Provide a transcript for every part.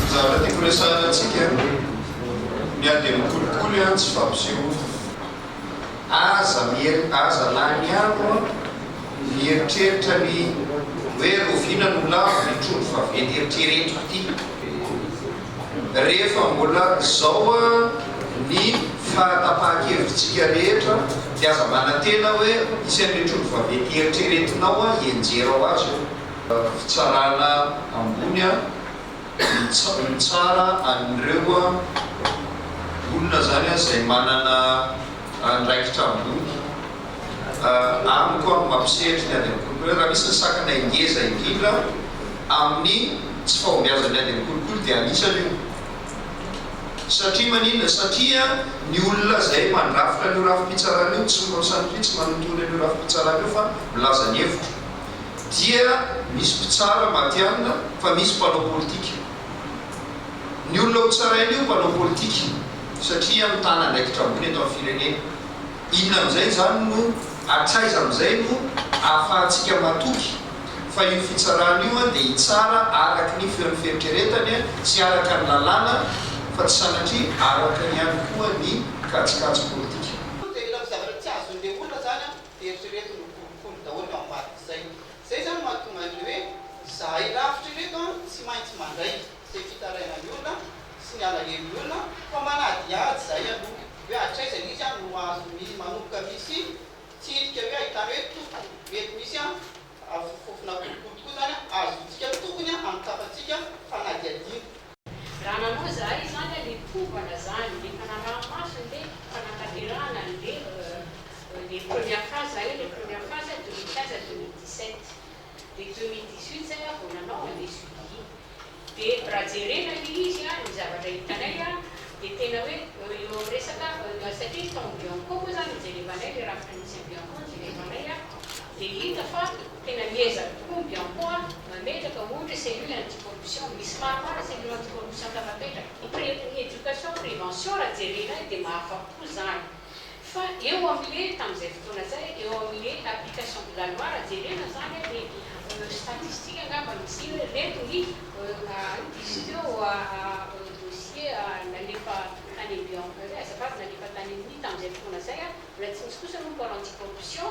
Ny zavatra tiako resahana antsika miha dia mikolikoly an tsy fampisehoana. Aza mieri aza laniako an mieritreritra ny hoe roviana no lavo ny trondro vaventy eritreretiko ity. Rehefa mbola izao ny fahatapahan-kevitsika rehetra dia aza manantena hoe hisy an'ireo trondro vaventy eritreretinao hianjera ho azy eo. Fitsarana ambony mitsara an'ireo olona izany izay manana. andraikitra ambony amiko an, mampisehatry ny ady am-kolikoly raha misy ny sakana engeza indrindra amin'ny tsy fahombiazan'ny ady am-kolikoly dia anisany io satria maninona? satria ny olona izay mandrafitra an'io rafi-pitsarana io tsy miroso an'ity tsy manontolo an'io rafi-pitsarana io fa milaza ny hevitro dia misy mpitsara matihanina fa misy mpanao politika ny olona ho tsaraina io mpanao politika satria mitana andraikitra ambony eto amin'ny firenena. Inona amin'izay izany no hatraiza amin'izay no ahafahantsika matoky fa io fitsarana io dia hitsara araka ny feon'ny fieritreretany sy araka ny lalàna fa tsy sanatria araka ihany koa ny kajikajy politika. Io dia ilay zavatra tsy azon'ilay olona izany eritrereto no kolikoly daholo ny ao ambadik'izay. Izay izany no mahatonga an'ilay hoe izahay lavitra ireto tsy maintsy mandraika. izay fitarainan'ny olona sy ny alahelon'ny olona fa manadihady izay aloha hoe hatraiza izy no azo mi manomboka misy fitsirika hoe ahitana hoe toko mety misy afofofofona kolikoly tokoa izany azotsika tokony amin'ny tafantsika fanadihadiana. Raha nanao izahay izany ary nitovana izany efa naraha-maso ny hoe fanatanterahana ny hoe les premières phases, zahay les premières phases deux mille quinze à deux mille dix-sept de 2018 zay aho vao nanao an le suivi iny de raha jerena le izy an ny zavatra hitanay an de tena hoe eo amin'ny resaka satria izy tao amin'ny bianco moa zany no jerevanay le rafitra misy an'i bianco no jerevanay an de hita fa tena miezaka tokoa ny bianco an mametraka ohatra cellule anti corruption misy maromaro cellule anti corruption tafapetraka ny education prevention raha jerena de mahafapo zany Fa eo amle tamzay fotoana zay eo amle application de la loi raha jerena zany a de statistique angamba misy iny hoe reto ny dossier nalefa tany amby azafady nalefa tany aminy tamzay fotoana zay a mbola tsy misy kosa aloha ny pôle anti corruption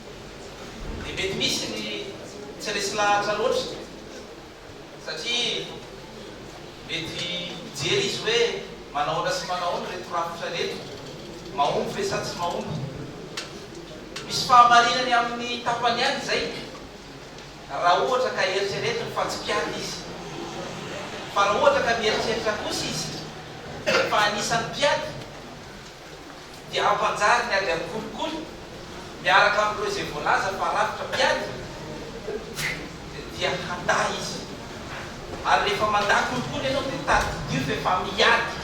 dia mety misy ny tsy resy lahatra loatra satria mety mijery izy hoe manahoana sy manahoana ireto rafitra ireto, mahomby ve sa tsy mahomby. Misy fahamarinany amin'ny tapany ihany izay raha ohatra ka eritreretiny fa tsy mpiady izy. Fa raha ohatra ka mieritreritra kosa izy fa anisan'ny mpiady, dia hampanjary ny ady amin'ny kolikoly miaraka amin'ireo izay voalaza fa rafitra mpiady dia handà izy ary rehefa mandà kolikoly ianao dia tadidio fa efa miady.